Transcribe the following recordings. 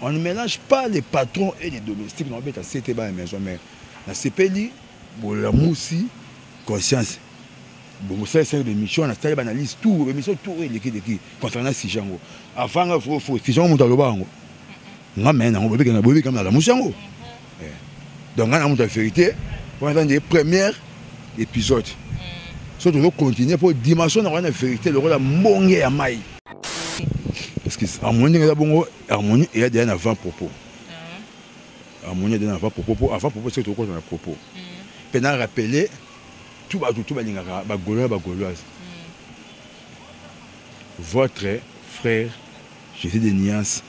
On ne mélange pas les patrons et les domestiques. On beta CT ba maison mère. Na sepeli bolamusi conscience. Bon, ça c'est des missions, na tali analyse tout, mais mission tout et leki leki concernant si jango. Avant nga faut faut si jango mutaloba ngo. Nga mena ngo bobeka na bobeka na la musango. eh. donc ngai na moto ya verité wana eza nde première épisode mm. so tozo continue mpo dimension na wana ya verité lokola mbonge ya mai parce que harmonie ndenge eza bongo harmonie eya deya na avant propos ah. harmonie eya deya na avant propos mpo avant propos soki tokokota na propos mpe mm. na rappele tu bato tu balingaka bagolois bagoloise mm. votre frère jésus de niance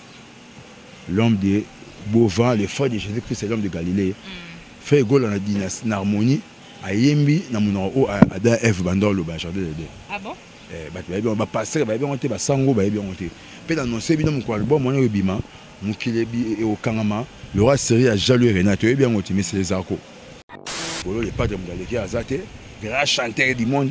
l'homme de Bova, le frère de Jésus-Christ, l'homme de Galilée, mm. frère Gola na dynastie na harmonie ayembi na monoko oyo ada Eve banda oloba jardin de Dieu. Ah bon? Eh, bato bayebi yango bapastere bayebi yango te basango bayebi yango te mpe na nonse bino mokolo album wana ebima mokili ekokangama lora serie ya jalo e renate oyebi yango te mais c'est les arco bolo le padre moto aleki aza te grand chanteur du monde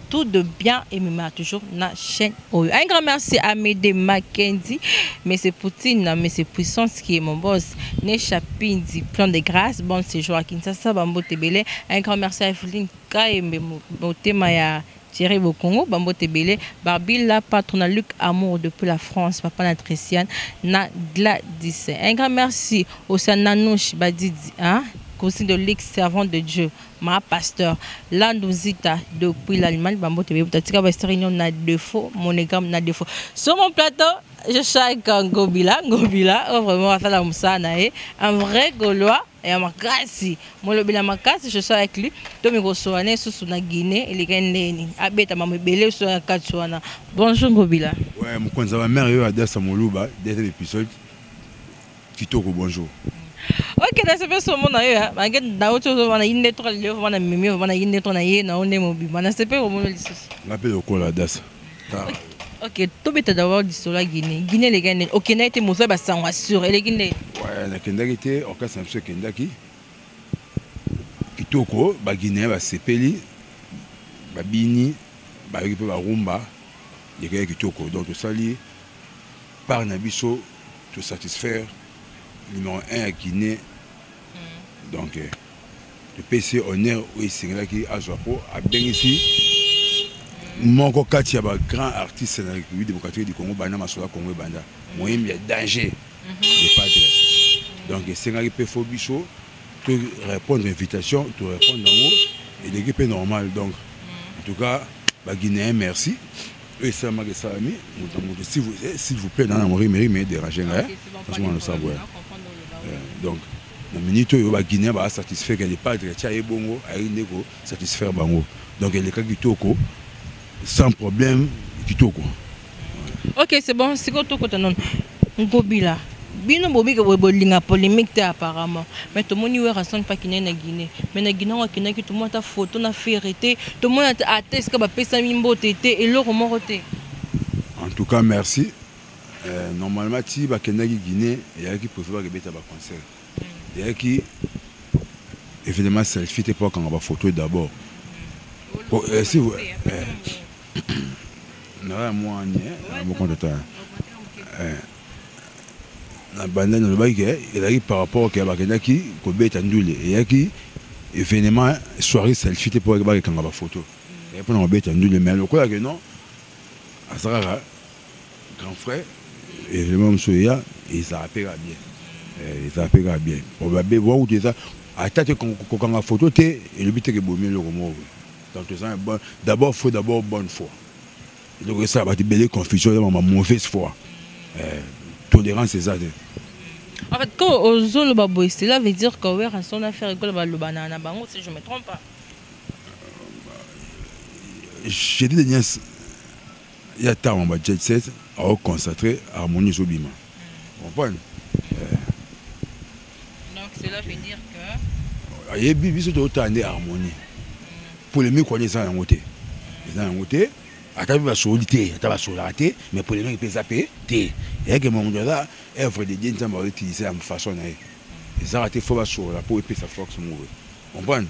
tout de bien et me met toujours na chaîne oyo. Un grand merci à Mede Mackenzie, Monsieur Poutine, Monsieur Puissance qui est mon boss, Nesha Pindi, plein de grâce, bon séjour à Kinshasa, Bambo Tebele. Un grand merci à Evelyne Kaembe, Motema ya Thierry Bokongo, Bambo Tebele, Barbie la patronne Luc Amour depuis la France, Papa Natriciane, na Gladys. Un grand merci au Sananouche Badidi, hein, conseil de Luc, servant de Dieu. ma pasteur landu zita depuis l'allemagne bambote bebuta tika bahistoire union na défaut monogame na défaut sur mon plateau je chaque ngobila ngobila oyo oh, vraiment asala mosala na ye un vrai gaulois ya makasi molobela makasi je suis avec lui to mikosola na esusu na guinée elekaki ndenge nini abeta mamo ebele esusu ya kati wana bonjour ngobila ouais, mokonzi ya bamare oyo adasa moluba deuxième épisode kitoko bonjour ok na sepesi komona yo bange nauti ozoma na yinde tro lelo voma na mimi voma na yinde tro na ye na yo nde mobima na sepeli komona lisusu nga mpe lokola dasa ok tobeta dabord lisolo ya guine guine eleki nde okendaki te mosala basango assure eleki nde nakendaki te orkestre na biso ekendaki kitoko baguinéen basepeli babini bayoki mpe barumba lekaki kitoko donc tosali part na biso to satisfaire numéro 1 ya guinée hmm. donc eh, topesi honneur oyo esengelaki azwa mpo abengisi moko kati ya bagrand artiste na république démocratique du congo banda masola congo ebanda moyembi ya danger mhm. de padre donc esengaki mpe fo biso to répondre invitation to répondre yango eleki mpe normal donc mhm. en tout cas baguinéen merci oyo esalamaka esalami moto na moto s'il vous plaît nana mori meri me dérange nga nazomona losa boya donc na minute oyo baguinien baa satisfait ke lepadre atya ye bongo ayei nde ko satisfaire bango donc eleka kitoko sans problème kitoko ok c'est bon sikoyo tokota nono Ngobila, bino bobi ke bolinga polemique te apparemment. Mais tomoni Werrason pa kine na Guinée. Mais na Guinée ngo akendaki tomona ta photo na Ferre te, tomona ta ata esika ba pesami mbote te, eloko moko te. En tout cas merci. Euh, normalement ti bakendaki Guinée, eyalaki prévu bakebeta ba concert. eyaki événement selfie te mpo akanga bafoto d'abord po esi naoya mwani mokonto na banda nalobaki ke ezalaki par rapport ke bakendaki kobeta ndule eyaki événement soirée selfie te mpo bakekanga bafoto mpo na kobeta ndule mais lokola ke non aza kaka grand frère element mosusu eya ezala mpe kaka bien eh, ezala mpe kaka bien babe bwakutu eza ata te kokanga foto te elobi teke bomi eloko moko donc toza d'abord faut d'abord bonne foi eloko esala bato ebele confusion eza mama mauvaise foi eh, tolérance eza te En fait, quand Ozolo Baboy, cela veut dire que Werrason a fait rigoler Balobana na bango, si je ne me trompe pas. J'ai dit des nièces. ya ntango ba jet set ao consacre harmonie ezobima comprendre ayebi biso totala nde harmonie polémique wana eza yango te eza yango te ata mpe basoli te ata basolaka te mais polémique mpe eza mpe te eyake mamundo aza œuvre de dieu nzambe aoutilize ya façon na ye ezaka te fo basolola mpo epesa force moko comprendre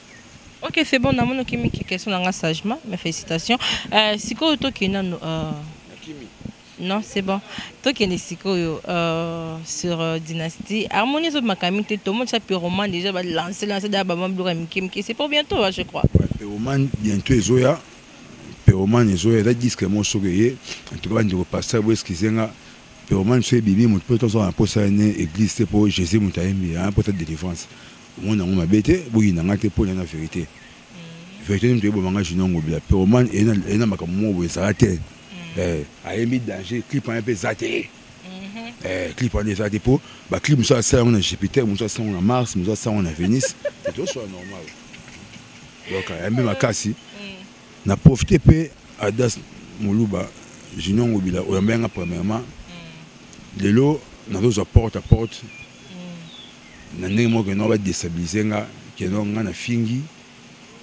Ok, c'est bon, namoni okimi ki question nanga sagement, mes félicitations. Euh, sikoyo tokende nanu euh... Nakimi. Non, c'est bon. Tokende sikoyo euh, sur euh, Dynastie. Harmonie ezo makami te, tout le monde ça pyroman déjà va lancer lancer da ba mambo ya miki miki. C'est pour bientôt, hein, je crois. Ouais, pyroman bientôt ezoya. Pyroman ezoya, da disque mo soke ye. En tout cas, ba ndiko pasteur bo excusez nga. Pyroman so bibi mo peut on s'en posa ne église te pour Jésus mutayembi, hein, pour ta délivrance. omoni yango mabe te boyina nga te mpo na na verite verite nini toyeboma nga junior ngobila pyroman eye na makambo moko boye ezala te mm. eh, ayembi danger clip wana mpe eza te mm-hmm. eh, clip wana eza te mpo baclip mosusu asala yango na jupiter mosusu asala yango na mars mosusu asala yango na venise etosola normal donc ayambi makasi mm. na profite mpe adas moluba junior ngobila oyambaki nga premièrement mm. lelo nazozwa porte à porte na ndenge moko keno ba destabiliser nga keno nga na fingi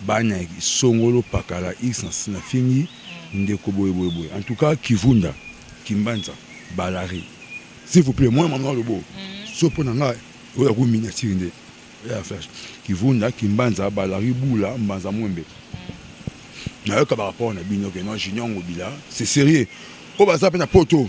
bana songolo pakala x na fingi ndeko boye boye boye en tout cas kivunda kimbanza balari s'il vous plaît mwana mama lobo mm. so mpo na nga oya ko miniature nde ya flash kivunda kimbanza balari bula mbanza mwembe mm. nayoka barapport na bino keno junior ngobila c'est sérieux oyo baza mpe na poto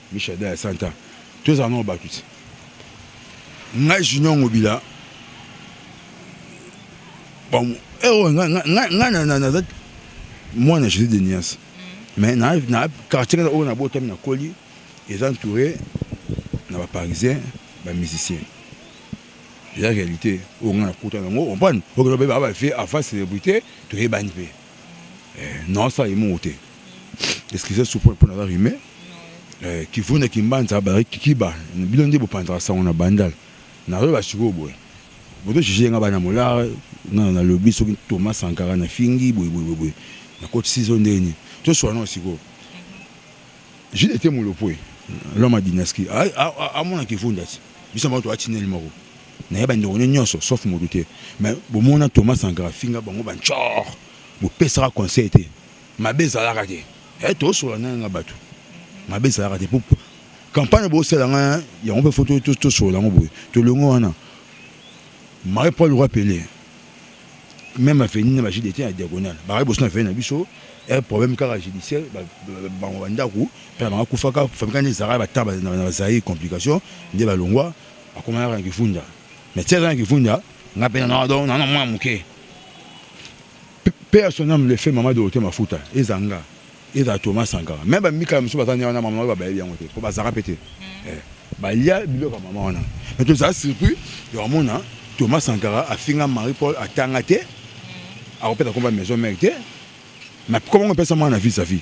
Mishada ya Santa. Tozala nao batu ti. Ngai Junior Ngobila. Bon, eh oh, ngai ngai na na na moi na Jésus de Nias. Mm. Mais na na quartier na oyo na botami na koli est entouré na ba parisiens, ba musiciens. eza réalité oyo ngai nakuta nango comprendre oyo baloba baba vie avant célébrité toyebani mpe eh, non ça emongo te excusez soupe mpo naza rime eh, kivu na kimbanza bazali kikiba bino nde bopanzaka sango na bandal nazoyeba sikoyo boye bozo juge yenga bana molare nga nalobi soki thomas sankara na fingi boyeboyeboye nakotisi zo ndenge nini toswana sikoyo jude ete molopoe loma dynastie amonaki efundasi biso moko toatineli moko naye bandeko nyo nyonso sauf moto te mais bomona thomas sankara finga bango bancor bopesaka conseil te mabe ezalaka te e tosola naye nga bato mabe ezalaka te po campagne bosala nga yango mpe fo tosola yango boye tolongo wana marie paul roi pele même aveni na bagide te ya diagonale bakaki boso na aveni na biso e problème kaka judiciaire bango bandako mpe na bango akufaka famika nde ezalaka na bazaire complication nde balongwa akoma yaka na kifunda mais ti aza na kifunda nga mpe nana donc nana mwana moke mpe ya son ame le fait mama dorote mafuta eza nga eza toma sankara meme bamikala mosusu baza nde wana mama oyo babayebi yango te mpo bazalaka mpe te hmm. eh, balia biloko ya mama wana mais tozala surpris ya komona toma sankara afinga marie paul atanga te hmm. akopesa komba maison mare te mais komango epesa mwana na vis à vis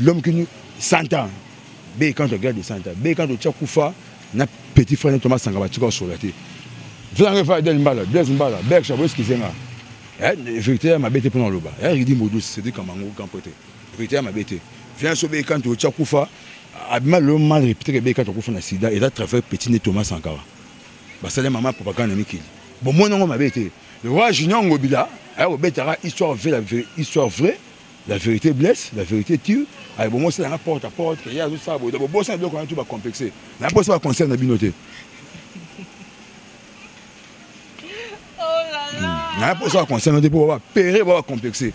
l'homme qui nous 100 ans be quand regarde de 100 ans be quand tu kufa na petit frère na Thomas Sangaba tu ko solate Flange fa del mbala Blaise mbala Berk Chabo eskizenga eh vérité ma bête pour loba eh il dit modus c'est dit comme un grand pote vérité ya mabe te viens so be quand otya kufa abima lelo mal répété ke be quand okufa na sida eza travers petit ne thomas sankara basali mama propagande na mikili bomoni yango mabe te le roi junior ngobila ayakobetaka histoire vraie histoire vraie La vérité blesse, la vérité tue. Ayi bomo sala nga porte à porte, ya zo sala boye. Bobosa biloko na tout ba complexé. Na bosa ba concert na bino te. naye mposa ya conseil note mpo bapere ba bacomplexe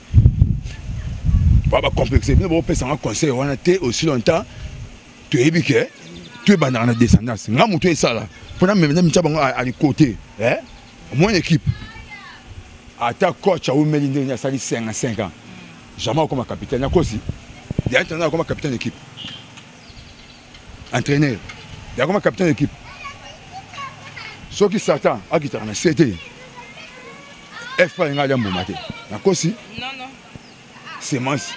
ba bacomplexe bino bopesanga conseil wana te aussi longtemps toyebi ke toyebandaka na descendance nga moto esala mpo na meme na mitya bango alikote eh? Mon équipe, ata coach awumeli ndenge nini asali 55 ans jamais akoma capitaine nakosi ya entraîneur akoma capitaine équipe entraîneur yakoma capitaine équipe soki satan akitaka na se te fpa linga alya mbuma te nakosi semence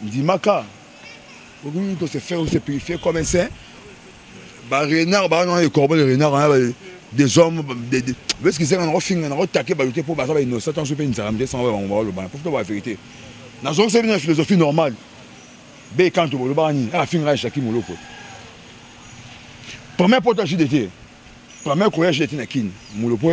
ndimaka okoki ko se faire ou se purifier comme un saint ba renard ba non les corbeaux les renards hein, bah, des hommes bah, des des parce qu'ils sont en finga na attaquer ba yote pour ba ba innocent tant sope nzara mde sans ba ngwa lo ba pour toi la vérité na zone c'est une philosophie normale be quand tu le bani ah finga chaki moloko première porte à JDT première courage JDT na kin moloko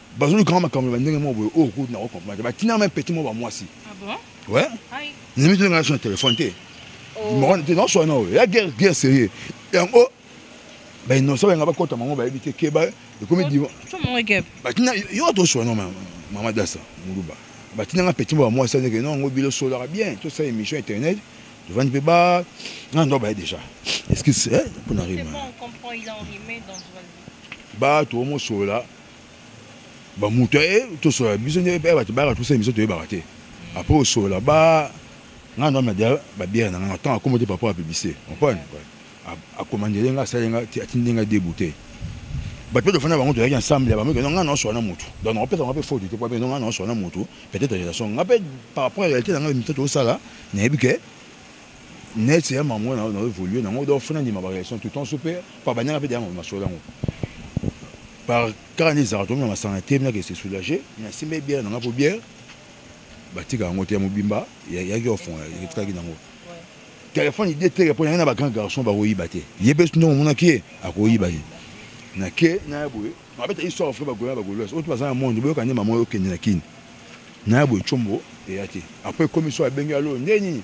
bazolukanga makambo ya bandenge moko boye oyo oh, kutu nako comprendre te batinaka meme peti moko bamwasi we nimi toleka na so na telefone te te naoswa na oyo ya guerre guerre sérieux yango bainosa balinga bakota mango bayebi te ke ekomi batina yo toswa na mama dasa muluba batina nga peti moko bamwasi andeke no yango bilo solaka bien tosala émission internet tofandi mpe ba nga ndo baye déjà excuse mpona rima bato omosolola ba mutu e eh, to so biso nde ba ba ba to se biso to ba te après au so là ba nga na ma dia ba bière na nga tant à commander papa a publicité on prend a commander nga ça nga ti atindi nga débouté ba peut de fana bango to yaki ensemble ba meko nga na so na mutu donc on peut on peut faute te quoi mais nga na so na mutu peut-être relation nga peut par rapport à la réalité na nga mi to ça là na yebike net ya mamu na na évoluer na ngo donc fona ndima ba relation tout temps super pa banyaka pe dama masola ngo par car ni zara tomi na masana te na que c'est soulager na simbe bien na ngapo bien batika yango te mobimba yaki ofon etikaki na ngo telefone ide teke mpo yangi na bagrand garçon bakoyiba te ye mpe soki ndenge omonaki ye akoyiba ye na ke na ya boye babeta histoire fre bagola bagolois oyo to baza na monde boyoka nde mama oyo okende na kini na ya boye combo eya te après ekomi so abengi alo nde nini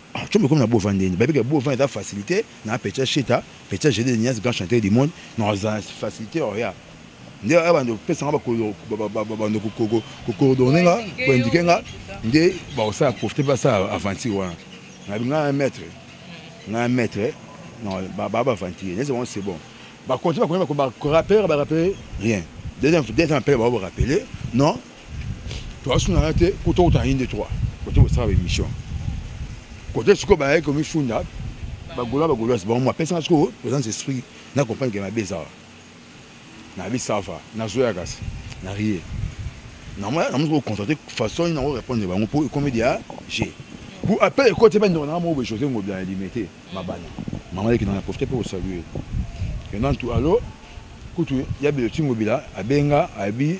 Ah, tu me comme na Bovan Deni. Baby que Bovan est facilité. Na Pecha Cheta, Pecha Gédé Nias, grand chanteur du monde. Non, c'est facilité, oh, regarde. nde aya bando kopesa nga bando kocoordonne nga koindike nga nde bakosala profite basala aventure wana nabi nga un maître nga un maître non baa baventure nese bango c'est bon bakonti bakonti bakorapere barapere rien deuxième appel bao barapele non toasunaka te mpo tokota na inde 3 kote kosala baémission kote sikoyo bayaki komifunda bagola bagoloise bango mapesaka sikoyo toza na esprit na comprendre ke mabe ezala nayebi sava nazoya kasi na rie namosi kocontrate façon nango répondre bango mpo ekomi dia je pour appel ekoti bandeko nanga moko boye josé ngobi ya limete mabana mama leki nanga profite mpe kosalue enantu alo kutu ya bilotingo bila abenga abi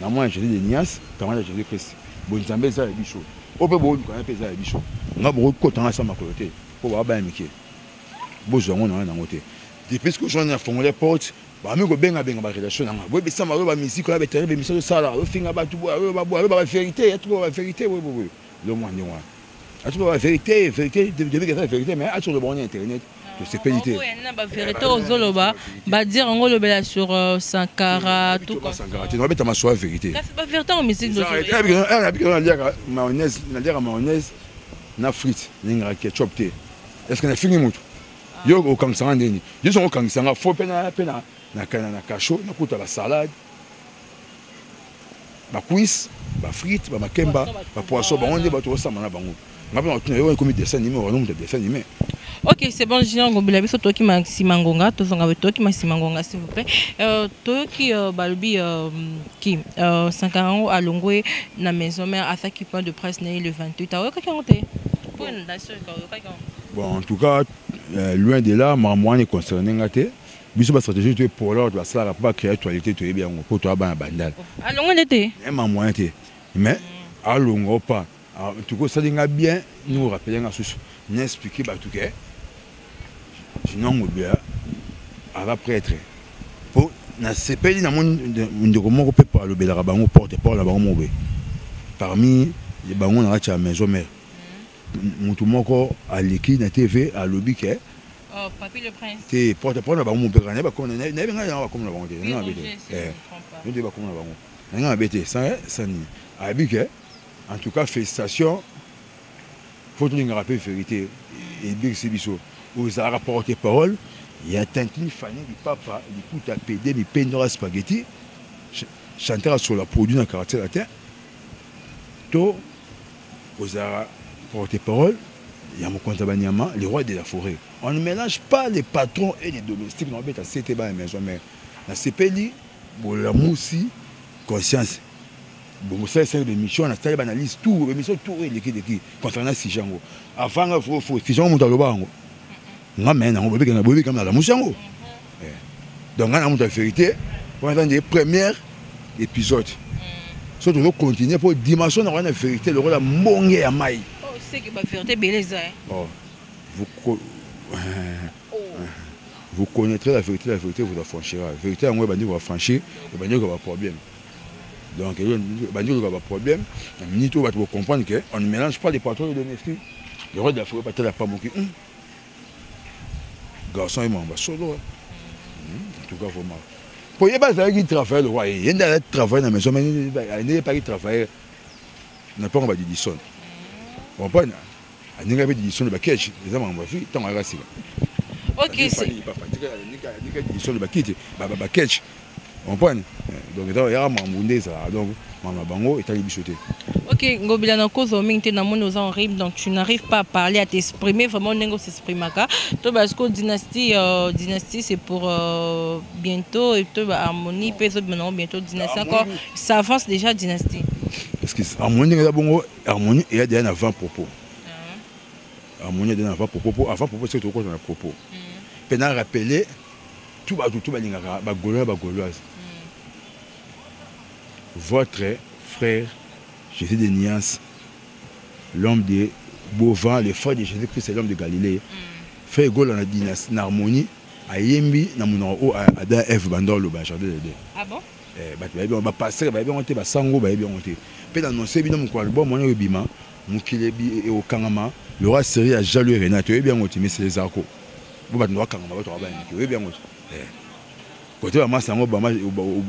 na mwana joli de nias kama na joli christ bonzambe eza ya biso oyo mpe booluka ya mpe eza ya biso nga bokokota nga sa makolo te mpo baaba ya mike bozwa yango na wana yango te depuis que ozwani na fongole porte bami kobengabenga barelation na nga boyebisa mayo bamiziki oyo batere bemisa tosala ofinga bato boye oyo baboye oyo babaverité yatuko babaverité boye boye lomwa ndenge wana asoki ba vérité vérité debika eza vérité mais asoki oloba wana internet tosepeli te na ba vérité ozoloba badire yango olobela sur euh, sankara sankara te nabeta maswa vérité kasi ba vérité yango musique nabikelo naliaka mayonnaise naliaka mayonnaise na frite nalingaka ketchup te est ce que nafingi motu ah. yo okangisanga ndeni yo songo okangisanga fo mpe na cachot nakuta basalade ba cuisse ba frites ba makemba ba poisson bango nde bato osamba na bango nga mpe matuna yo ekomi dessin anime wana moto dessin anime ok c'est bon junior ngobila biso toyoki masima ngonga tozonga toyoki masima ngonga s'il vous plaît euh, toyoki euh, balobi euh, ki sankara yango alongwe na maison mère asaki point de presse na ye le 28 aoyokaki yango te mpo na nation oyokaki yango bon en tout cas loin de là makambo wana econcerne nga te biso ba stratégie to epola bato basalaka mpo bacree actualité toyebi yango mpo toya bana bandal alongo nde te ma moyen te mais alonga o pas tuki osali nga bien ndenge orapele nga susu na explike bato ke jinangobea aza prêtre mpo nasepeli na moni ndeko moko mpe alobelaka bango porte parole na bango moko boye parmi bango na kati ya maison mare mutu moko aleki na TV alobi ke Oh, Papy le Prince. Te, porte porte bango mupeka na ba koma na na benga na ba koma na bango te. Na bete. Eh. Nous devons koma na bango. Na nga bete sans sans ni. Abi que en tout cas félicitations. Faut tout ngara pe vérité et bien c'est biso. Aux ara porte parole, il y a tantine Fanny du papa, du coup ta PD mi pendora spaghetti. Chanteur sur la produit na caractère la terre. To ozalaka porte-parole ya mokonzi ya banyama le roi de la forêt on ne mélange pas les patrons et les domestiques na obeta sete bana maison mère nasepeli bolamusi conscience bongo sala esali bemission nasali banalyse tour bemission tour oyo elekileki concernant sujet yango avanga fofo sujet yango moto aloba yango nga mene nango boyebi kanga boyebi kanga nalamusi yango eh. donc nga na moto ya verité wana eza nde première épisode mm. so tozo continue mpo dimension na wana verité lokola mbonge ya mai oh, eh. oh, vous, co... oh. vous connaîtrez la vérité la vérité vous affranchira vérité yango ebandi kobafranchir ebandi koka baproblème donc ebandi koka baproblème na minute oyo bato bocomprendre que on ne mélange pas les patrons de domestique le roi de la forêt batala pamoki hmm. garçon ye mamba solo en tout cas vraiment po ye bazalaki travaille lokwa ye ye nde azali travaille na maison nde yepaki travaille na mpango ba didison comprendre aninga mpe didison de bakeshe eza makambo afi ntango ayaka sika okisi didison de bakiti bakeshe comprendre donc eza yaka makambo nde ezalaka donc makambo na bango etali biso te ok ngobila na kozwa mingi te namoni oza en rime donc tu n'arrive pas à parler à t'exprimer vraiment ndenge osexprimaka to basi ko dynastie euh, dynastie c'est pour euh, bientôt et to baharmonie mpe ezobima nango bientôt dynastie encore ça avance déjà dynastie parce que harmonie ndenge eza bongo harmonie eya deya na 20 propos ah. harmonie eya deya na 20 propos mpo avant propos soki tokokota na propos mpe mm. na rappeler tout bato tout balingaka ba gaulois ba gauloise votre frère Jésus de Nias l'homme de Beauvant le frère de Jésus-Christ l'homme de Galilée frère Gola na dynastie na harmonie ayembi na monoko oyo ada eve banda oloba jardin de Dieu ah bon eh, bato bayebi yango bapastere bayebi yango te basango bayebi yango te mpe na nonse bino mokolo album wana ebima mokili ekokangama lora serie ya jaloux renate oyebi yango te mais c'est les arco bo bato ndo bakangama bato aba bayamiki oyebi yango eh. kote bamasa yango obama,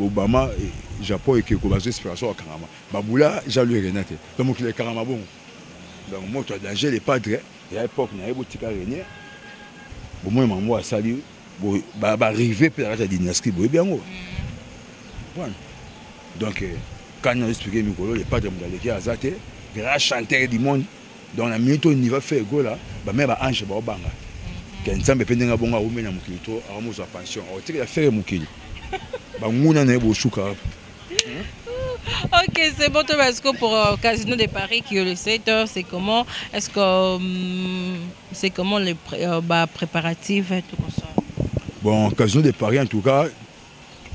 obama eh, japon ekeko bazwa inspiration bakangama babula jaloux erena te to mokili ekangama bongo donc moto ya danger le padre ya époque na ye botika renie bomoi mango asali barive mpe na kati ya dynastie boyebi yango mm. donc eh, kani nazo explike mikolo le padre moto aleki aza te grand chanteur du monde donc na minute oyo niva fe egola bamere ba ange baobanga mhm. ke nzambe mpe ndenge abongo awumi na mokili to awa mozwa pension akotikela fere mokili banguna na ye bosuka Ok, c'est bon, toi, parce que pour euh, Casino de Paris, qui est le 7 heures, c'est comment Est-ce que hum, c'est comment les pré, euh, bah, préparatifs et tout ça Bon, Casino de Paris, en tout cas,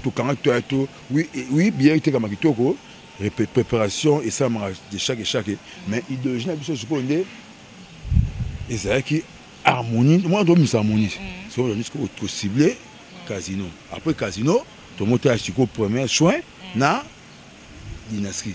tokanga to to oui oui bien etekama kitoko préparation esalamaka de chaque chaque mais idéologie na biso sikoyo nde ezalaki harmonie mwana tobimisa harmonie mm. sikoyo tobandi sikoyo tocible mm. casino après casino tomotala sikoyo premier soin mm. na dynastie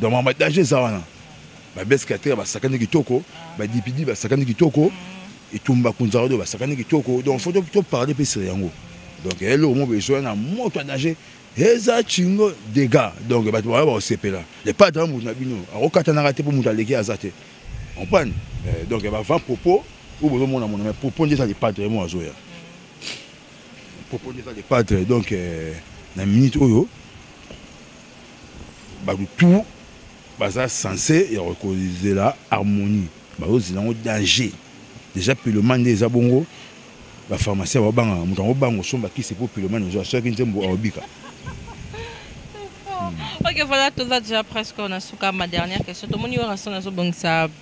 Donc makambo ya danger eza wana babes kateya basakani kitoko badipidi basakani kitoko etumba kunzarado basakani kitoko donc fo toparle mpe sur yango donc eloko moko ezoya na moto ya danger eza cingo dega donc bato bayo bakosepela epai ata moto na bino akokatanaka te mpo moto aleki aza te comprendre eh, donc bavant propos oyo bozomona mona mais propos nde eza lepatre ye moko azoya propos nde eza lepatre donc eh, na minute oyo bato tout baza sense ya kokozela harmonie bazozela yango danger déjà pilomane nde eza bongo bapharmacien babangaka moto yango bango osomba kisi mpo pilomane ozwa soki nzembo aobika hmm. ok voilà toza déjà presque na suka ma dernière question tomoni werrason azobongisa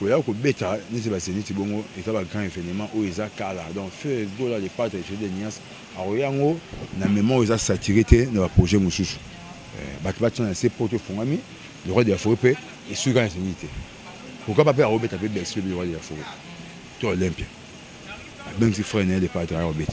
Koya kobeta neti ba zenith bongo eza ba grand evenement oyo eza kala donc feu gola le padre je de nias akoya yango na mema oyo eza satire te na ba projet mosusu eh, bato batia na se poto efongami le roi de la forêt mpe esuki kaka na zenith te kokaba mpe akobeta mpe bercy lobi le roi de la forêt to olympia abengisi frère na ye le padre akobeta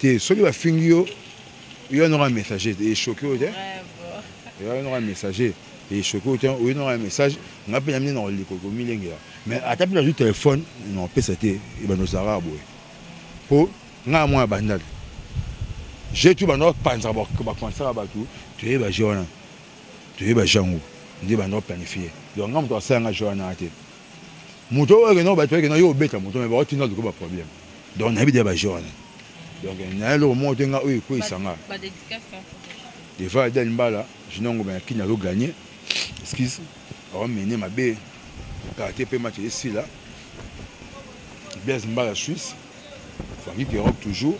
te soki bafingi yo yo anoko ya messager te echoke oyo te yo anoko ya messager echoke oyo te oyo noko ya message nga mpe namine nakoliko komilengela mais ata mpe nazwi telefone nakopesa te ebanda ozalaka boye mpo ngaa mwana bandali je tu banda kopanzaka bakomansaka bato toyeba je wana toyeba jango nde banda koplanifie donc nga moto asala nga je wana te moto oyo akenda bato akenda yo obeta moto me bakotinda luka baproblème donc nayebi deya baje wana donc naye eloko moko te nga oyo ekweisa nga deva adel mbala jinongo bayakini azo gagne excuse aomene mabe kate mpe match esila blaise mbala suisse franki kerob toujours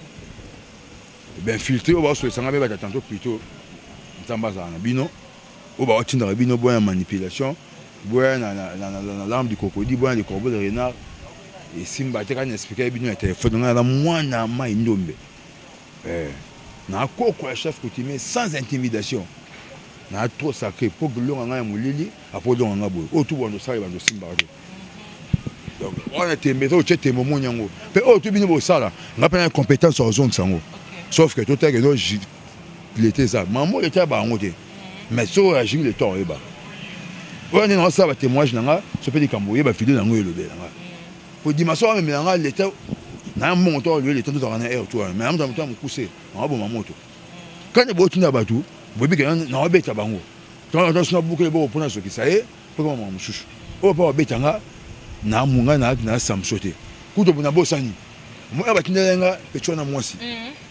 bainfiltre oyo baosolisa nga mpe batatanto plutôt nzambe azala na bino oyo ba tindaka bino boya manipulation boya na na na na na larme du crocodile boya na corbeau de renard et simba te kana expliquer bino na téléphone ngana mwana mai ndombe eh na koko ya chef coutumier sans intimidation na trop sacré po longa ngai ya molili apo longa ngai boye oyo tubwa ndosala bando simbaka te donc wana tembe eza otye tembe omoni yango mpe oyo tu bino bosala ngai mpe na compétence ya kozongisa yango sauf que totalaki no leta eza mamo leta ya bango te mais soki oyagiri leta oyeba oyo nde naosala batémoignage na nga so mpe likambo oyeba video na yango elobela nga po dimension wamemela nga leta na mbongo to aloye leta tozalaka na aire to wana mais amoto ya mokuse naoboma moto kani botinda bato boyebi ke naobeta bango tona bukele boko mpona sokisa ye mpo kama makambo mosusu oyo mpo babeta nga na munga na samso te kutu na bosani moya batindela nga petio na mwasi mhm.